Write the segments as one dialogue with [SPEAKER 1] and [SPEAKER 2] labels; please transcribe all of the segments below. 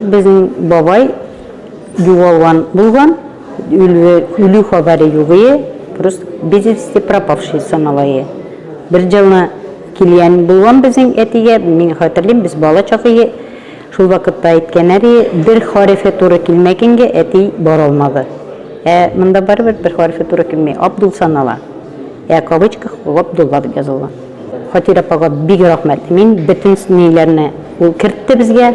[SPEAKER 1] Безнең бабай югалган булган, үлү хәбәре югые, просто без вести пропавшие саналайы. Бер җылны килгән булган безнең әтигә, мин хәтерлим, без бала чагые, шул вакытта әйткәннәре, бер хәрефе туры килмәгәнгә әти бара алмады. Ә монда барыбер бер хәрефе туры килми, Абдул санала. Ә кавычках Габдулла дип язылган. Фатир апага бик рәхмәт. Мин бөтен ниләрне ул кертте безгә.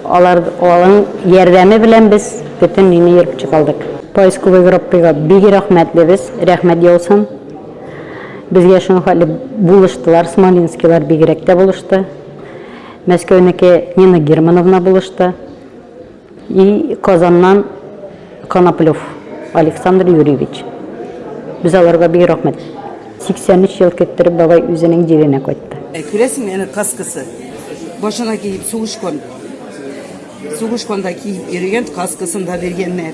[SPEAKER 1] Алар алың ярдәме белән без бөтен нини йөреп чыгалдык. Поисковый группыга бик рәхмәтлебез, рәхмәт яусын. Безгә шуның хәтле булыштылар, смолинскийлар бигрәк тә булышты. Мәскәүнеке Нина Германовна булышты. И Казаннан Коноплев Александр Юрьевич. Без аларга бик рәхмәт. 83 ел көттереп бабай үзенең җиренә кайтты. Ә күрәсеңме, әнә каскасы. Башына киеп сугышкан. Сугышканда киеп йөргән каскасын да биргәннәр.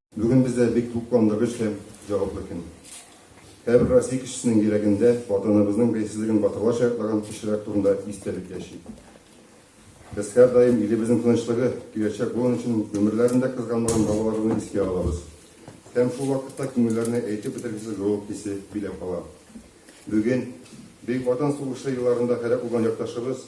[SPEAKER 1] Бүген бездә бик тукландыргыч һәм җаваплы көн. Һәрбер Россия кешесенең йөрәгендә Ватаныбызның бәйсезлеген батырлар шаяртлаган кешеләр турында истәлек яши. Без һәрдаим илебезнең тынычлыгы, киләчәк буын өчен гомерләрен дә кызганмаган балаларны искә алабыз. Һәм шул вакытта күңелләрне әйтеп бетергесез җылылык хисе биләп ала. Бүген Бөек Ватан сугышы елларында һәлак булган якташыбыз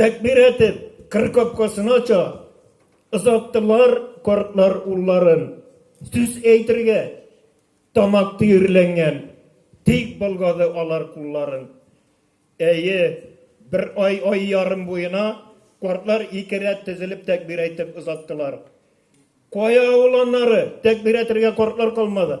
[SPEAKER 1] Тәкбир әйтеп, кыр капкасын ача. Озаттылар картлар улларын. Сүз әйтергә тамак төерләнгән, тик болгады алар кулларын. Әйе, бер ай, ай ярым буена картлар ике рәт тезелеп тәкбир әйтеп озаттылар. Кая ул аннары, тәкбир әйтергә картлар калмады.